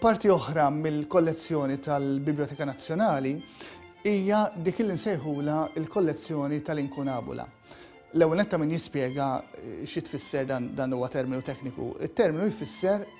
Parti oħra mill-kollezzjoni tal-Biblioteka Nazzjonali hija dik li nsejħula l-kollezzjoni tal-inkunabula. L-ewwel netta min jispjega eh, xi tfisser dan huwa terminu tekniku. Il-terminu jfisser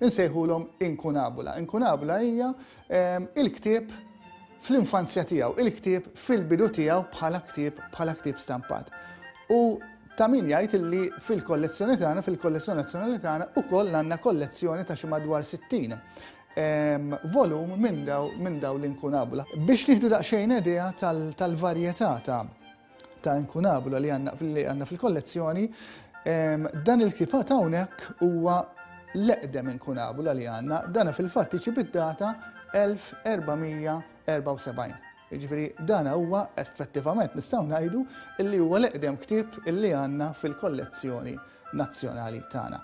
Insejħulhom incunabula. Incunabula hija il-ktieb fl-infanzja tiegħu, il-ktieb fil-bidu tiegħu bħala ktieb bħala ktieb stampat. U ta' min jgħid illi fil-kollezzjoni tagħna, fil-kollezzjoni nazzjonali tagħna ukoll għandna kollezzjoni ta' xi madwar 60 volum minn daw minn daw l-incunabula. Biex nieħdu daqsxejn idea tal-varjetà ta' ta' inkunabula li għandna fil-kollezzjoni, dan il-kipat hawnhekk huwa l-eqdem inkunabula li għandna, dana fil-fatt iġi bid-data 1474. Ġifiri, dana huwa effettivament nistgħu ngħidu li huwa l-eqdem ktieb li għandna fil-kollezzjoni nazzjonali tagħna.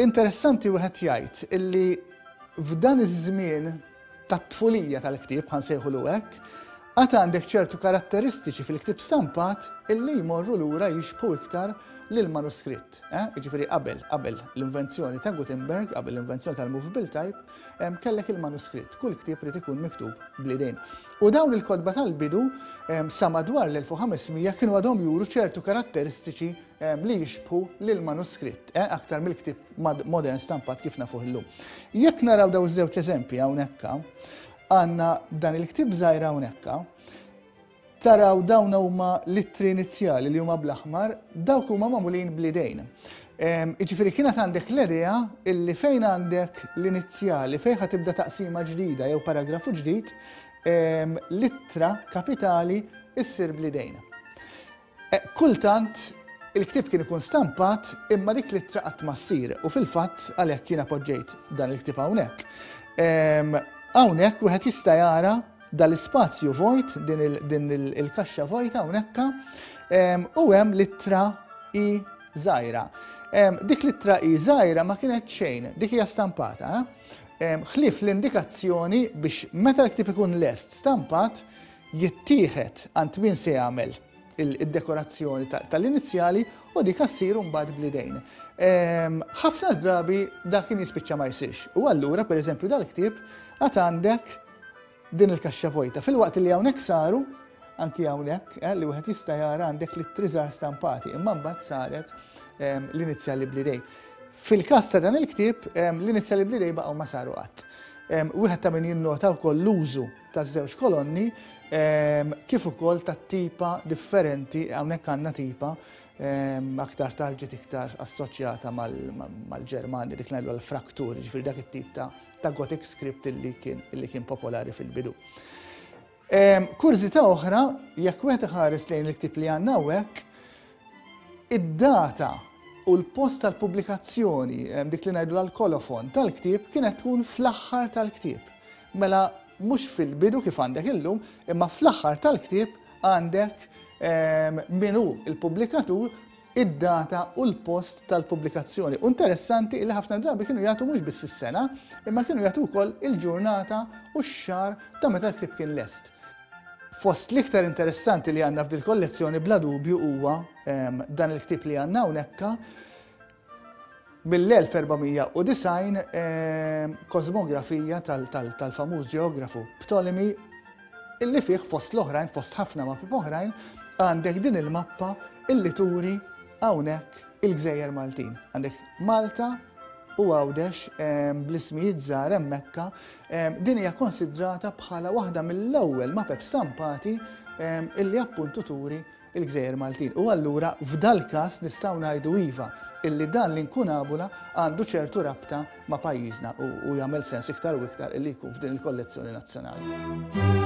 Interessanti wieħed jgħid illi f'dan iż-żmien tat-tfulija tal-ktieb, ħa nsejħulu hekk, għad għandek ċertu karatteristiċi fil-ktieb stampat illi jmorru lura jixbħu iktar lill-manuskritt. Eh? Jiġifieri qabel, qabel l-invenzjoni ta' Gutenberg, qabel l-invenzjoni tal-movable type, kellek il-manuskritt. Kull ktieb rid ikun miktub blidejn. U dawn il-kodba tal-bidu sa madwar l-1500 kienu għadhom juru ċertu karatteristiċi li jixbħu lill-manuskritt eh, aktar mill-ktieb modern stampat kif nafuh illum. Jekk naraw daw żewġ eżempji hawnhekka, għandna dan il-ktieb żgħir hawnhekka, taraw dawn huma l-ittri inizjali li huma bl-aħmar, dawk huma magħmulin bl-idejn. Iġifiri kienet għandek l-idea illi fejn għandek l-inizjali, fejn ħa tibda taqsima ġdida jew paragrafu ġdid, l-ittra kapitali issir blidejna. Kultant, il-ktieb kien ikun stampat imma dik l-ittra qatt ma ssir u fil-fatt għalhekk jiena poġġejt dan il-ktieb hawnhekk. Hawnhekk wieħed jista' jara dal-ispazju vojt, din il-kaxxa vojta hawnhekk, u hemm l-ittra i żgħira. Dik l-ittra i żgħira ma kienet xejn, dik hija stampata. Ħlief l-indikazzjoni biex meta l-ktieb ikun lest stampat, jittieħed għand min se jagħmel id-dekorazzjoni tal-inizjali u dik ssir mbagħad bl-idejn. Ehm, ħafna drabi dak kien jispiċċa ma jsirx. U allura, per eżempju, dal-ktieb għad għandek din il-kaxxa vojta. Fil-waqt li hawnhekk saru, anki hawnhekk eh, li wieħed jista' jara għandek li triżar stampati, imma mbagħad saret ehm, l-inizjali bl-idejn. Fil-każ ta' dan il-ktieb, ehm, l-inizjali bl-idejn baqgħu ma saru qatt. Wieħed ta' min jinnota wkoll l-użu taż-żewġ kolonni kif ukoll tat-tipa differenti, hawnhekk għandna tipa aktar tard ġiet iktar assoċjata mal-Ġermanja dik ngħidu l-fraktur, ġifieri dak it-tip ta' Gothic script li kien li kien popolari fil-bidu. Kurżità oħra, jekk wieħed iħares lejn il-ktieb li għandna hawnhekk, id-data u l-post tal-pubblikazzjoni, dik li ngħidu l-kolofon tal-ktieb kienet tkun fl-aħħar tal-ktieb. Mela mhux fil-bidu kif għandek illum, imma fl-aħħar tal-ktieb għandek min hu l-pubblikatur, id-data u l-post tal-pubblikazzjoni. U interessanti illi ħafna drabi kienu jagħtu mhux biss is-sena, imma kienu jagħtu wkoll il-ġurnata u x-xahar ta' meta l-ktieb kien lest. Fost l-iktar interessanti li għandna f'dil-kollezzjoni bla dubju huwa dan il-ktieb li għandna hawnhekka, Mill-1490, kosmografija tal-famuż ġeografu Ptolemy, illi fih fost l-oħrajn, fost ħafna mappi oħrajn, għandek din il-mappa illi turi hawnhekk il-gżejjer Maltin. Għandek Malta u Għawdex bl-ismijiet żgħar hemmhekk, din hija konsidrata bħala waħda mill-ewwel mapep stampati illi appuntu turi il-Gżejjer Maltin. U allura f'dal-każ nistgħu ngħidu iva, illi dan l-inkunabula għandu ċertu rabta ma' pajjiżna u jagħmel sens iktar u iktar illi jkun f'din il-kollezzjoni nazzjonali.